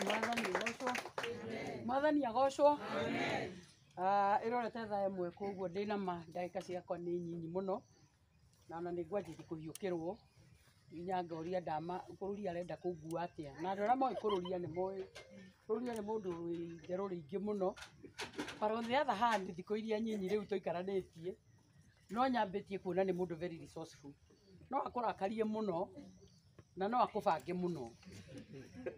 mwathani agocwo mwathani agocwo ĩrorete thaa ĩmwe koguo ndĩ na ma ndagĩka ciakwa nĩ nyinyi mũno na ona nĩ ngwanjĩtie kũhiũkĩrwo nginya ngoria ndama kũrũria arenda kũngua atĩa na andũ arĩa moĩ kũrũria nĩ moĩ rũria nĩ mũndũ wĩ itherũ rĩingĩ mũno but on the other hand thikũ iria nyinyi rĩu tũikaranĩtie no nyambĩtie kuona nĩ mũndũ very resourceful no akũrakarie mũno na no akũbange mũno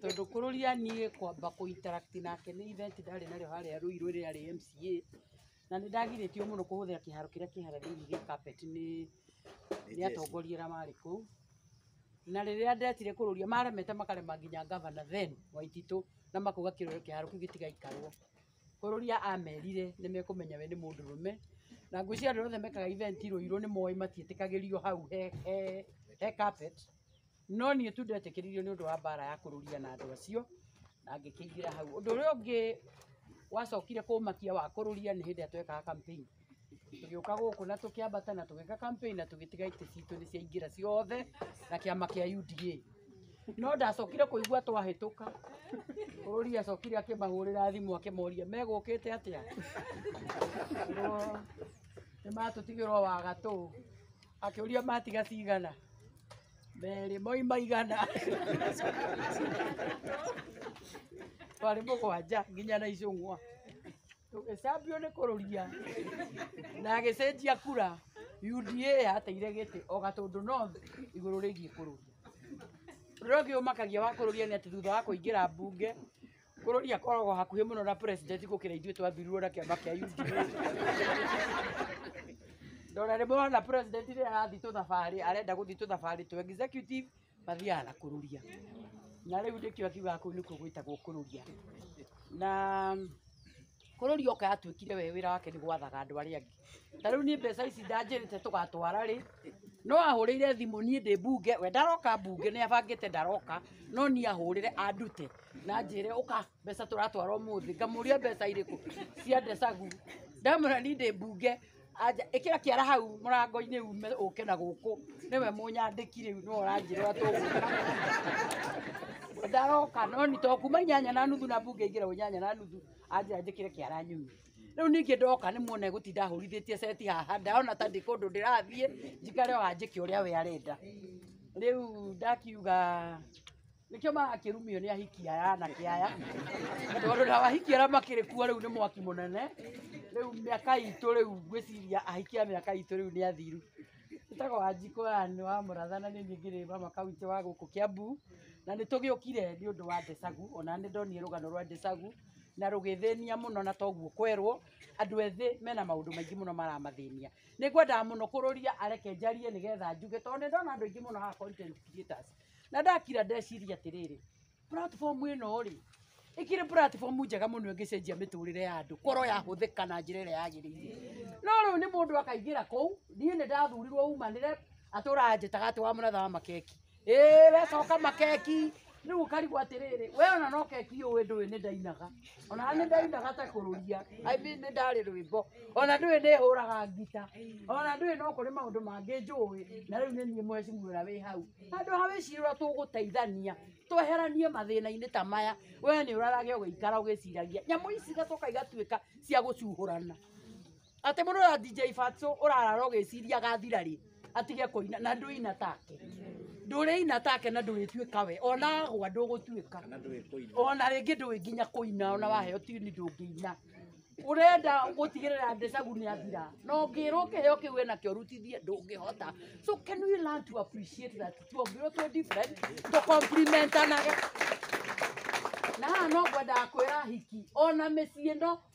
tondũ kũrũria niĩ kwamba kũ interact nake nĩ event ndarĩ narĩo harĩa Ruiru rĩrĩa rĩ MCA na nĩ ndagirĩtio mũno kũhũthĩra kĩharo kĩrĩa kĩ harĩa thĩinĩ gĩa carpet nĩ nĩ atongoria arĩa marĩ kũu na rĩrĩa ndetire kũrũria maremete makarema nginya ngavana then Waititũ na makauga kĩrore kĩharo kĩu gĩtigaikarwo Kũrũria amerire nĩ mekũmenya we nĩ mũndũrũme, na ngwĩciria andũ arĩa othe mekaga event Rũirũ nĩ moĩ matiĩtĩkagĩrio hau he he he carpet, no niĩ tu ndetĩkĩririo nĩ ũndũ wa mbara ya kũrũria na andũ acio, na ngĩkĩingĩra hau. Ũndũ ũrĩa ũngĩ wacokire kũmakia wa kũrũria nĩ hĩndĩ ĩrĩa twekaga campaign. tũgĩũka gũkũ na tũkĩambata na tũgĩka campaign na tũgĩtiga itĩ citũ nĩ ciaingĩra ciothe na kĩama kĩa UDA no ndacokire kũigua twahĩtũka bũrũri acokire akĩmahũrĩra thimũ akĩmoria megũkĩte atĩa nĩ matũtigĩrwo wa gatũ akĩũria matiga cigana merĩ moima igana twarĩ mũgwanja nginya na icũng'wa tũgĩcambio nĩ kũrũria na agĩcenjia kura UDA yateire gĩtĩ o gatũndũ no igũrũ rĩgiĩ kũrũria ũrĩa ũngĩ ũmakagia wa kũrũria nĩ atĩ thutha wa kũingĩra mbunge kũrũria koragwo hakuhĩ mũno na president gũkĩra ithuĩ twathurirwo na kĩama kĩa UDA ndona rĩmwe wona president rĩrĩa arathiĩ tũthabarĩ arenda gũthiĩ tũthabarĩ tũ executive mathiaga na kũruria na rĩu nĩkĩo akiugaga kũu nĩkuo gwĩtagwo kũruria na kũrũria oka yatuĩkire we wĩra wake nĩ gwathaga andũ arĩa angĩ ta rĩu niĩ mbeca ici ndanjĩrĩte tũgatwara rĩ no ahũrĩire thimũ niĩ ndĩ mbunge we ndaroka mbunge nĩ abangĩte ndaroka no niĩ ahũrĩre andute na njĩre ũka mbeca tũratwara ũmũthĩ ngamũria mbeca irĩkũ cia ndecagu ndamwĩra niĩ ndĩ mbunge Anja, ĩkĩra kĩara hau mũrango-inĩ ume ũke na gũkũ nĩwe mũnyandĩki rĩu nĩwe ũranjĩra ũrĩa tũgwĩka ndaroka no nĩ to kuma inyanya na nuthu na mbunge ingĩra inyanya na nuthu anjĩra njĩkĩre kĩara nyume rĩu ningĩ ndoka nĩ muona gũtinda hũrithĩtie seti haha ndaona ta ndĩ kũndũ ndĩrathiĩ njikare o hanjĩke ũrĩa we arenda rĩu ndakiuga nĩkĩo marakĩrumio nĩ ahiki aya anake aya tondũ na ahiki arĩa makĩrĩ kuo rĩu nĩ mwaki mũnene rĩu mĩaka itũ rĩu ngwĩciria ahiki a mĩaka itũ rĩu nĩ athiru njĩtagwo wanjikũ aya nĩ wa mũratha na nĩ niĩ ngĩrĩ mama kaunti wa gũkũ kĩambu na nĩ tũgĩũkire nĩ ũndũ wa ndecagu ona nĩ ndonire rũgano rwa ndecagu na rũgĩthĩnia mũno na toguo kwerwo andũ ethĩ mena maũndũ maingĩ mũno maramathĩnia nĩ ngwendaga mũno kũrũria areke njarie nĩgetha njuge tondũ nĩ ndona andũ aingĩ mũno haha content creators na ndakira ndeciria atiriri platform ino ri ikiri platform njega muno ingicenjia miturire ya andu koro ya huthika na njira iria yagirire no riu ni mundu akaigira kuu nie ni ndathurirwo umanire atura anjitaga ati wa munatha makeki ii we coka makeki riu ukarigwo atiriri we ona no keki uyu nduwi ni ndainaga ona nĩ ndainaga ta kũrũria I mean nĩ ndarĩ rwĩmbo ona ndũĩ nĩ hũraga ngita ona ndũĩ no kũrĩ maũndũ mangĩ njũĩ na rĩu nĩ niĩ mweci mwĩra wĩ hau handũ ha wĩcirĩrwo tũgũteithania tweheranie mathĩna-inĩ ta maya we nĩ ũrarage ũgĩikara ũgĩciragia nyamũ ici igacoka igatuĩka cia gũcuhũrana Atĩ mũndũ ũrĩa DJ Fatso ũrarara ũgĩciria agathira rĩ atige kũina na ndũina take. Ndũrĩina take na ndũrĩtuĩka we ona agwa ndũgũtuĩka. Ona rĩngĩ ndũĩ nginya kũina ona waheo tini ndũngĩina. Ũrenda gũtigĩrĩra Ndecagũ nĩ athira na ũngĩrwo kĩheo kĩu we nakĩo rutithie ndũngĩhota. So can we learn to appreciate that tuombirwo twĩ different to complimentanage na haha no ngwendaga kwĩra ahiki ona mĩciĩ no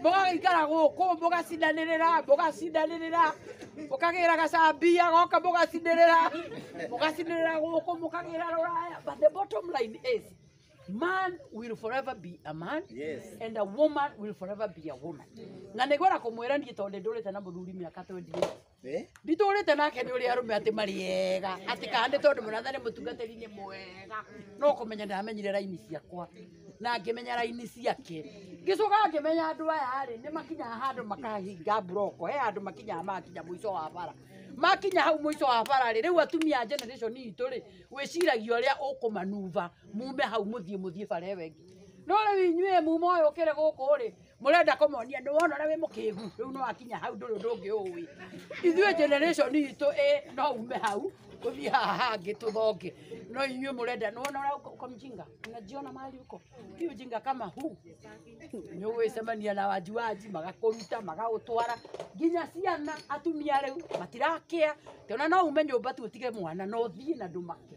mũgagĩikara gũkũ mũgacindanĩrĩra mũgacindanĩrĩra mũkagĩra gacambia goka mũgacinĩrĩra mũgacinĩrĩra gũkũ mũkagĩra rũraya but the bottom line is man will forever be a man Yes. and a woman will forever be a woman na nĩgwenda kũmwĩra niĩ tondũ nĩndũrĩte na mũthuri mĩaka 28 nditũrĩte nake nĩ ũrĩa arũme atĩ marĩ ega atĩ kana nĩ tondũ mũratha nĩ mũtungatĩri-inĩ mwega no kũmenya ndamenyire raini ciakwa na ngĩmenya raini ciake ngĩcoka ngĩmenya andũ aya rĩ nĩ makinyaga handũ makahinga mburoko he handũ makinyaga magakinya mũico wa bara makinya hau mũico wa bara rĩ rĩu atumia a generation itũ rĩ wĩciragia ũrĩa ũkũmanuva mume hau mũthiĩ mũthiĩ bara ĩyo ĩngĩ no rĩu inyuĩ muma ũyũ ũkĩrĩ gũkũ rĩ murenda kumuonia ni wona uria wi mukingu riu no akinya hau nduri undu ungi uwi ithuĩ generation itũ ĩ no ume hau uthii haha hangi tuthonge no inyuĩ murenda ni wona uria uko- uko mjinga unajiona mali uko hii ujinga kama huu ni ugwicemania na wajuaji magakuruta magagutwara nginya ciana atumia riu matirakia tona no ume nyumba tu utige mwana no thii na ndumake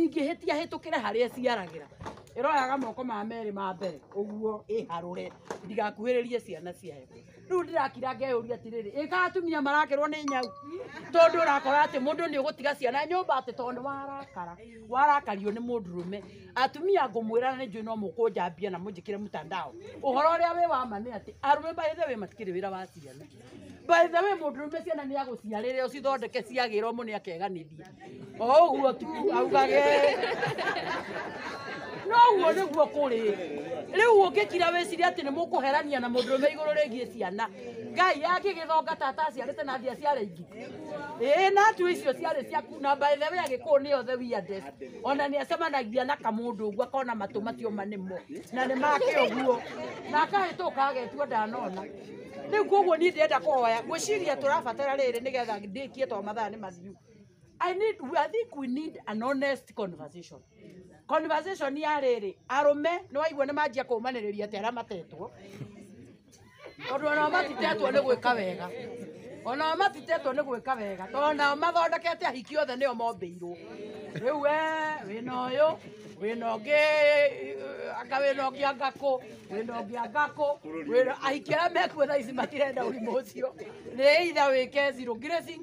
ingĩhĩtia hĩtũkĩre harĩa ĩciaragĩra ĩroyaga moko ma merĩ ma mbere ũguo ĩharũre ndigakuhĩrĩrie ciana ciayo rĩu ndĩrakira ngeyũria atĩrĩrĩ ĩka atumia marakerwo nĩ nyau tondũ ũrakora atĩ mũndũ nĩ ũgũtiga ciana nyũmba atĩ tondũ warakara warakario nĩ mũndũrũme atumia ngũmwĩra na nĩnjũĩ no mũkũnjambia na mũnjĩkĩre mũtandao ũhoro ũrĩa wĩ wa ma nĩ atĩ arũme by the way matikĩrĩ wĩra wa ciana by the way mũndũrũme ciana nĩ agũciarĩre ũcithondeke ciagĩra ũmũ nĩ akeganĩria oguo tu augage noguo niguo kuri riu ungikira wiciri ati ni mukuherania na mundurume iguru rigie ciana ngai angigithonga tata aciarite na thia ciare ingi ii na tu icio ciarĩ ciaku na by the way agĩkũũ nĩ othe weirdest ona nĩ acemanagia na kamũndũ ũguo akona matũ macio ma nĩmo na nĩ make ũguo na akahĩtũka agetua ndanona rĩu koguo niĩ ndĩrenda kũhoya ngwĩciria tũrabatara rĩrĩ nĩgetha ndĩkie to mathaa nĩ mathiu I need, I think we need an honest conversation. Conversation ya rĩrĩ, arũme nĩ waigua nĩ manjia kũmanĩrĩria atĩ arĩa matetwo. Tondũ onao matitetwo nĩ gwĩka wega. Onao matitetwo nĩ gwĩka wega. Tondũ onao mathondekete ahiki othe nĩo mombĩirwo. Rĩu we wĩna ũyũ, wĩna ũngĩ eh, anga wĩna ũngĩ anga kũ, wĩna ũngĩ anga kũ, wĩna ahiki arĩa mekuo thaa ici matirenda ũrimũ ũcio. Nĩ either wĩke zero grazing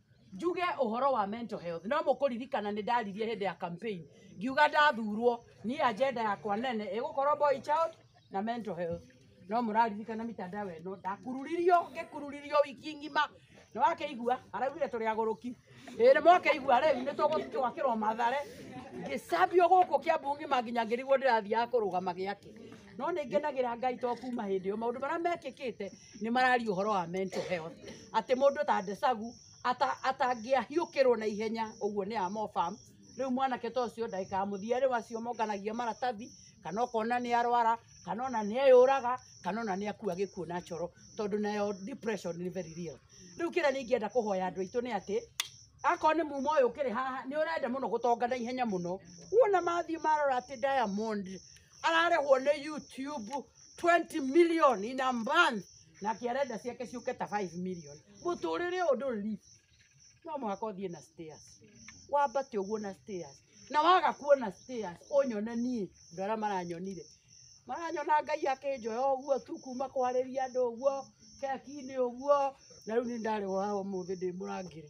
njuge ũhoro wa mental health no mũkũririkana nĩ ndaririe hĩndĩ ya campaign ngiuga ndathurwo niĩ agenda yakwa nene ĩgũkorwo boy child na mental health no mũraririkana mitandao ĩno ndakururirio ngĩkururirio wiki ng'ima nĩ wakeigua araugire tũrĩ agũrũki ĩĩ nĩ mwakeigua rĩu nĩ tũgũkĩwakĩrwo mathare ngĩcambio gũkũ kĩambu ng'ima nginya ngĩrigwo ndĩrathiaga kũrũgama gĩakĩ no nĩ ngenagĩra ngai to kuma hĩndĩ ĩyo maũndũ marĩa mekĩkĩte nä mararia å horo wa mental health atä må ndå ta ndecagu atangä ahiå rwo na ihenya å guo nä amobam rä u mwanake ta å cio ndagä kaga må thia rä u acio monganagia maratathi kana ũkona nĩ arwara kana ona nĩ eyũraga kana ona nĩ akua gĩkuũ na coro tondũ nayo depression nĩ very real rĩu kĩrĩa nĩ ingĩenda kũhoya andũ aitũ nĩ atĩ akorwo nĩ muma ũyũ ũkĩrĩ haha nĩ ũrenda mũno gũtonga na ihenya mũno wona mathiĩ marora atĩ diamond ararĩhwo nĩ youtube 20 million in a month na kĩarenda ciake ciũke ta 5 million mũtũrĩre ũyũ ndũrĩ lift no mũhaka ũthiĩ na stairs wambate ũguo na stairs na waga kuona stairs ũnyone niĩ andũ arĩa maranyonire maranyona ngai akĩnjoya ũguo tu kuma kwarĩria andũ ũguo keki-inĩ ũguo na rĩu nĩ ndarĩ wa ũmũthĩ ndĩ mũrangĩre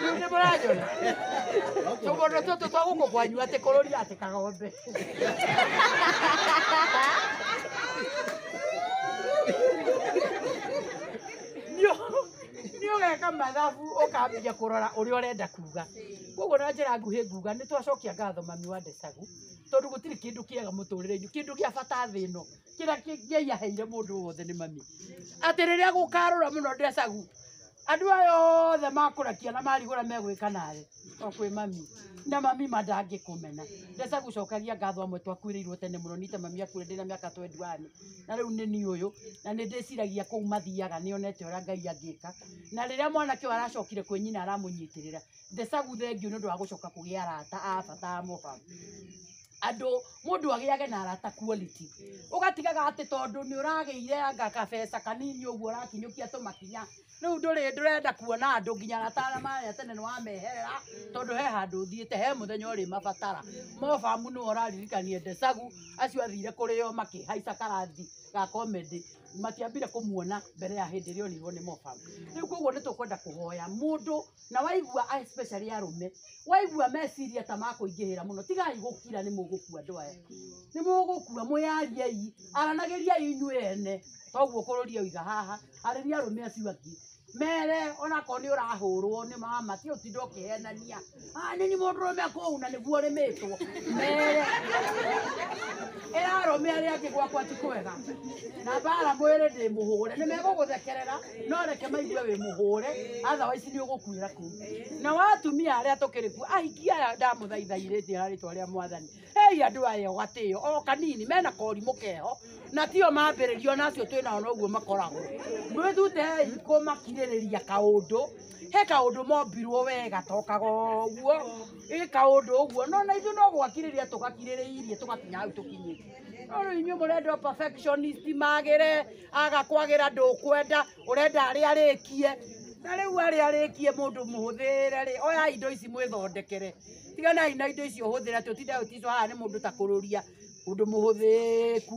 Rĩu nĩ mũranyona tũmũndũ tũtũ twa gũkũ kwanyu atĩ kũrũria atĩ kagombe nĩ ũgeka mathabu ũkambia kũrora ũrĩa ũrenda kuga koguo na njĩra nguhĩ nguga nĩ twacokia ngatho mami wa ndecagu tondũ gũtirĩ kĩndũ kĩega mũtũrĩre-inĩ kĩndũ gĩa bata thĩ ĩno kĩrĩa kĩ- ngai aheire mũndũ wothe nĩ mami atĩ rĩrĩa gũkarũra mũno ndecagu andũ aya othe makũrakia na marigũra megwĩka nawe o kwĩ mami na mami ma ndangĩkũmena ndecagu cokagia ngatho amwe twakuĩrĩirwo tene mũno nite mami akuire ndĩna mĩaka twenduani na rĩu nĩ niĩ ũyũ na nĩ ndĩciragia kũu mathiaga nĩonete ũrĩa ngai angĩka na rĩrĩa mwanake ũyũ aracokire kwĩ nyina aramũnyitĩrĩra Thecagu thengiũ nĩ ũndũ wa gũcoka kũgĩa arata a bata a mũba andũ mũndũ agĩage na arata quality ũgatigaga atĩ tondũ nĩ ũragĩire anga kabeca kanini ũguo ũrakinyũkia tũmakinya rĩu ndũrĩ ndũrenda kuona andũ nginya arata arĩa marĩa tene nĩ wameherera tondũ he handũ ũthiĩte he mũthenya ũrĩ mabatara mobamu nĩwe ũraririkanie Ndecagu acio athire kũrĩ o makĩhaica karathi ga comedy matiambire kũmuona mbere ya hĩndĩ ĩrĩa onirwo nĩ mobamu rĩu koguo nĩ tũkwenda kũhoya mũndũ na waigua a- especially arũme waigua meciria ta makũingĩhĩra mũno tigai gũkira nĩ mũgũkua andũ aya nĩ mũgũkua mwĩyariei aranagĩriai inyuĩ ene toguo kũrũria ũiga haha arĩria arũme acio angĩ mere onakorwo nĩ ũrahũrwo nĩ mama ti ũtinda ũkĩhenania "Ah, nĩ nĩ mũndũrũme kũu na nĩguo ũrĩmĩtwo mere ĩra arũme arĩa angĩ gwakwa ti kwega na mbara mwĩrĩ ndĩmũhũre nĩ megũgũthekerera no reke maigue wĩ mũhũre otherwise nĩ ũgũkuĩra kũu na watumia arĩa tũkĩrĩ kuo ahikia aya ndamũthaithairĩtie na rĩtwa rĩa mwathani hei andũ aya gatĩo o kanini mena korimũ keho na tio mambĩrĩrio nacio twĩ nao noguo makoragwo mwĩthutei kũmakirĩrĩria kaũndũ he kaũndũ mombirwo wega tokaga ũguo ĩ kaũndũ ũguo no na ithuĩ no gwakirĩria tũgakirĩrĩirie tũgakinya hau tũkinyĩte no rĩu inyuĩ mũrenda perfectionist magĩre agakwagĩra ndũkwenda ũrenda arĩa arĩkie na rĩu arĩa arĩkie mũndũ mũhũthĩre rĩ oya indo ici mwĩthondekere tiganai na indo icio hũthĩra tũtinde ũticwa haha nĩ mũndũ ta kũrũria ũndũ mũhũthĩku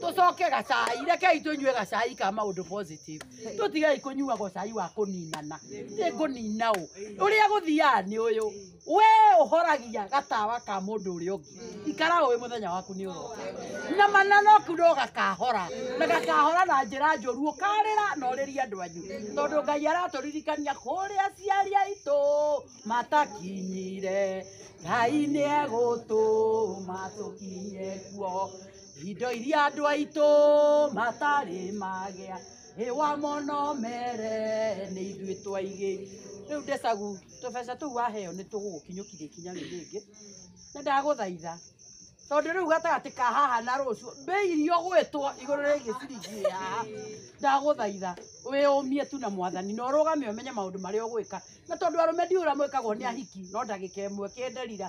tũcoke gacai rekei tũnyue gacai ka maũndũ positive tũtigei kũnyua gocai wa kũninana nĩ kũnina ũ ũrĩa gũthiaga nĩ ũyũ we ũhoragia gatawa ka mũndũ ũrĩa ũngĩ ikara ũĩ mũthenya waku nĩ ũroka na mananoku no gakahora na gakahora na njĩra njũru ũkarĩra na ũrĩrie andũ anyu tondũ ngai aratũririkania kũrĩa aciari aitũ matakinyire ngai nĩ egũtũma tũkinye kuo Indo iria andũ aitũ matarĩ magĩa Ĩwa mũno mere nĩ ithuĩ twaigĩ Rĩu Desagu tũbeca tũu waheo nĩ tũgũgũkinyũkithia ikinya rĩu rĩngĩ Na ndagũthaitha tondũ rĩu gatagatĩ ka haha na rũciũ mbei iria ũgwĩtwo igũrũ rĩgiĩ ciringi ĩĩ haha ndagũthaitha wĩyũmie tu na mwathani na ũrũgame ũmenye maũndũ marĩa ũgwĩka na tondũ arũme ndiũĩ ũrĩa mwĩkagwo nĩ ahiki no ndagĩka ĩmwe kĩnderira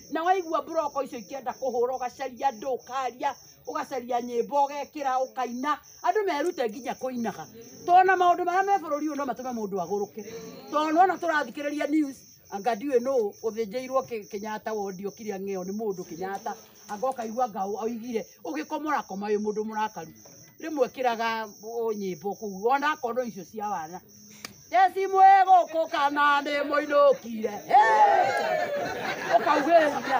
na waigua mburoko icio ikĩenda kũhũra ũgacaria andũ ũkaria ũgacaria nyĩmbo ũgekĩra ũkaina andũ merute nginya kũinaga tondũ na maũndũ marĩa me bũrũri ũyũ no matũme mũndũ agũrũke tondũ nona tũrathikĩrĩria news anga ndiũĩ nũ ũthĩnjĩirwo Kĩ- Kenyatta wondi okire ang'eo nĩ mũndũ Kenyatta anga ũkaigua anga oigire ũgĩkomora koma wĩ mũndũ mũrakaru rĩmwe kĩraga ũ- nyĩmbo kũu ona kondo icio cia wana Jesi mwĩ gũkũ kana nĩ mũinũkire ũkaugĩrĩria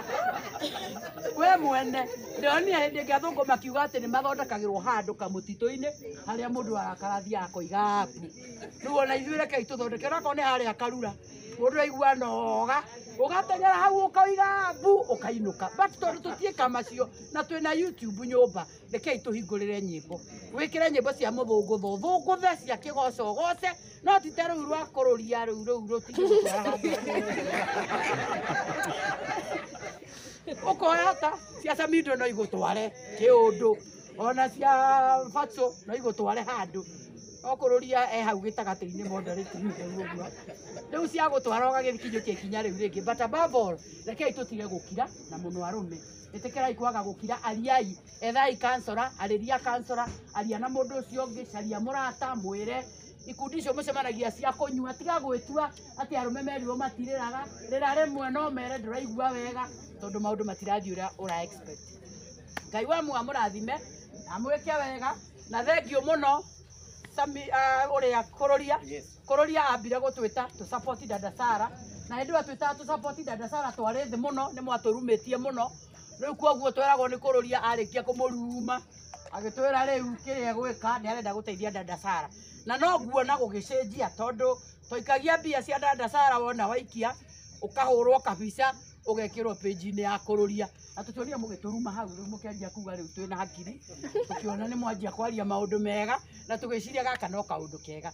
we mwene ndĩronire hĩndĩ ĩngĩ athũngũ makiuga atĩ nĩ mathondekagĩrwo handũ kamũtitũ-inĩ harĩa mũndũ arakara athiĩ akoiga apu rĩu ona ithuĩ rekei tũthondeke onakorwo nĩ harĩa karura mũndũ aigua noga ũgateng'era hau ũkoiga apu ũkainũka but tondũ tũtiĩka macio na twĩna youtube nyũmba rekei tũhingũrĩre nyĩmbo wĩkĩre nyĩmbo cia mũthũngũtho thũngũthe cia kĩgoco goce no tite rĩu rwa kũrũria rĩu rĩu rũtiũkoya ta cia samindo no igũtware kĩũndũ ona cia batũ no igũtware handũ okũrũria e hau gĩtagatĩ-inĩ mondarĩti-inĩ ũguo rĩu cia gũtwara ũgagĩkinyũkia ikinya rĩu rĩngĩ but above all rekei tũtige gũkira na mũno arũme ĩtĩkĩrai kwaga gũkira ariai ethai kansora arĩria kansora aria na mũndũ ũcio ũngĩ caria mũrata mwĩre ikundi icio mũcemanagia cia kũnyua tiga gwĩtua atĩ arũme merirwo matirĩraga rĩra rĩmwe no mere ndũraigua wega tondũ maũndũ matirathiĩ ũrĩa ũra expect ngai wa mua mũrathime amwĩke wega na thengiũ mũno Sami- ah, ũrĩa kũrũria Kororia ambire gutwita tu support dada Sara na hindi wa twita tu support dada Sara twari thi muno ni mwaturumitie muno riu koguo tweragwo ni kororia arikia kumuruma agitwira riu kiria gwika ni arenda guteithia dada Sara na no nguona gugicenjia tondu twaikagia mbia cia dada Sara wona waikia ukahurwo kabica ugekirwo page-inĩ ya kũrũria na tũtionire mũgĩtũruma hau rĩu mũkĩanjia kuga rĩu twĩna hakiri tũkĩona nĩ mwanjia kwaria maũndũ mega na tũgĩciria gaka no kaũndũ kega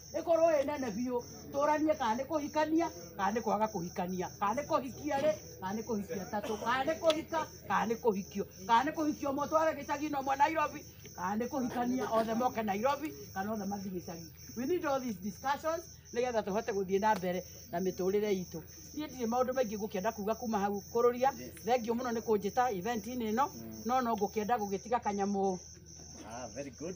ĩkorwo ĩ nene biũ tũranie kana nĩ kũhikania kana nĩ kwaga kũhikania kana nĩ kũhikia rĩ kana nĩ kũhikia tatũ kana nĩ kũhika kana nĩ kũhikio kana nĩ kũhikio ũmwe tware gĩcagi-inĩ ũmwe Nairobi kana nĩ kũhikania othe moke Nairobi kana othe mathiĩ gĩcagi we need all these discussions nĩgetha tũhote gũthiĩ na mbere na mĩtũrĩre itũ niĩ ndirĩ maũndũ maingĩ ngũkĩenda kuga kuma hau kũrũria thengiũ mũno nĩ kũnjĩta event-inĩ ĩno no no ngũkĩenda gũgĩtiga kanyamũ Ah, very good.